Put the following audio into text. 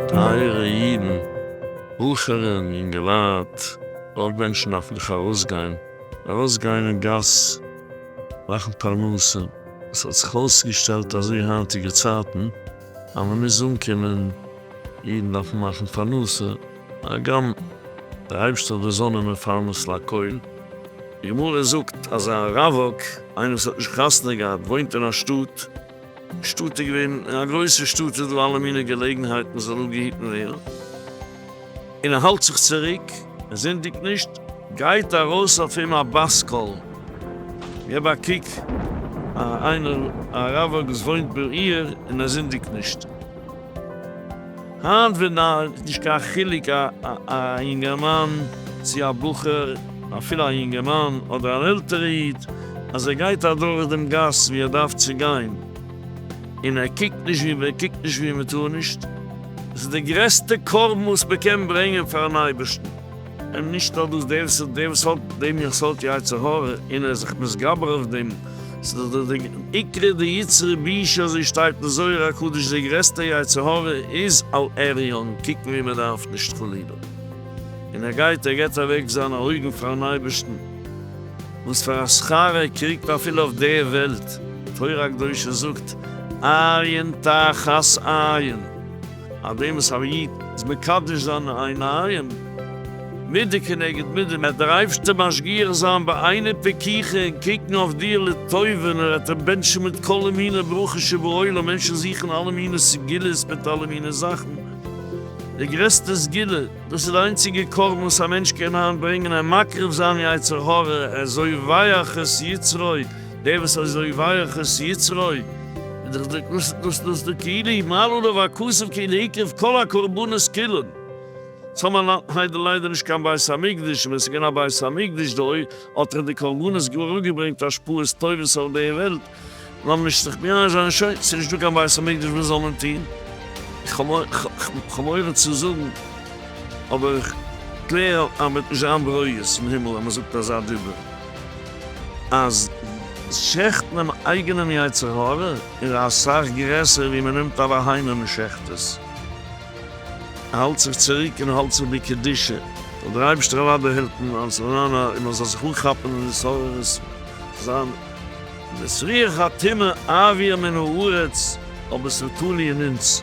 טייערע אידן, בחורים, יונגעלייט, אויך מענטשן דארפן דאך ארויסגיין, ארויסגיין אין גאס, מאכן פרנסה, עס האט זיך אויסגעשטעלט אזוי היינטיגע צייטן אז מען מוז אנקומען, אידן דארפן מאכן פרנסה, הגם די הייבסט אויף די זון און מפרנס לכל. גמרא זאגט אז א רווק, איינער וואס האט נישט חתונה געהאט, וואוינט אין א שטאט, די שטאט איז געווען, אין א גרויסע שטאט איז דא אלע מיני געלעגנהייטן זאל אפגעהיטן ווערן, און ער האלט זיך צוריק, ער זינדיגט נישט, גייט ארויס אויף אים א בת קול, געב א קוק, א איינער א רווק וואס וואוינט בעיר און ער זינדיגט נישט. היינט ווען די איז נישט קיין חילוק א א יונגערמאן צו א בחור אפילו א יונגערמאן אדער אן עלטערע איד אז ער גייט אדורך דעם גאס ווי ער דארף צו גיין און ער קוקט נישט ווי מען קוקט נישט ווי מען טאר נישט עס איז די גרעסטע קרבן וואס מען קען ברענגען פארן אייבערשטן. און נישט האט דאס דער ס'איז דער וואס האט דעם יכולת יצר הרע און ער איז זיך מתגבר אויף דעם, ס'איז דאך דער עיקרא דיצרי בישא אזוי שטייט אין זוהר הקדוש דער גרעסטער יצר הרע איז על עריון קוקן ווי מען דארף נישט חלילה און ער גייט ער גיבט אוועק זיינע אויגן פארן אייבערשטן וואס פאר א שכר ער קריגט אפילו אויף די וועלט, תורה הקדושה זאגט עיין תחת עיין אט דעם וואס א איד איז מקדש זיינע עיניים מידה כנגד מידה, וועט דער אייבערשטער משגיח זיין בעיני פקיחה און קוקן אויף דיר לטובה, און ער וועט אים בענטשן מיט כל מיני ברכות שבעולם, מענטשן זוכן אלע מיני סגולות מיט אלע מיני זאכן, די גרעסטע סגולה, דאס איז די איינציגע קרבן וואס א מענטש קען היינט ברענגען, אים מקריב זיין יצר הרע, ער זאל ווייעך את יצרו, דער וואס אזוי ווייעך את יצרו איז דאך דער קנסות נושא דאס דער כאילו היא מעלה עליו הכסף כאילו הקריב כל הקרבנות כולן. צום האט נאך ליידער ליידער נישט קיין בית המקדש און ווען ס'איז געווען א בית המקדש דאהי האט ער די קרבנות גאר אראפגעברענגט השפעות טובות אויף די וועלט. לאמיר נישט זיך מייאש זיין שוין ס'איז נישט דא קיין בית המקדש וואס זאל מען טוהן? כ'האב מורא צו זאגן אבער כ'קלער אז מ'וועט נישט זיין ברויז אין הימל אז מ'זאגט אזא דיבור. אז שעכט דעם אייגענעם יצר הרע איז אסאך גרעסער ווי מען נעמט א בהמה און מען שעכט עס, מען האלט זיך צוריק און האלט זיך בקדושה, זאל דער אייבערשטער אוודאי העלפן אז מען זאל זיך אנכאפן און התעוררות זיין. וואס ריח הטומאה אעביר מן הארץ, אבער ס'איז תלוי אין אונז.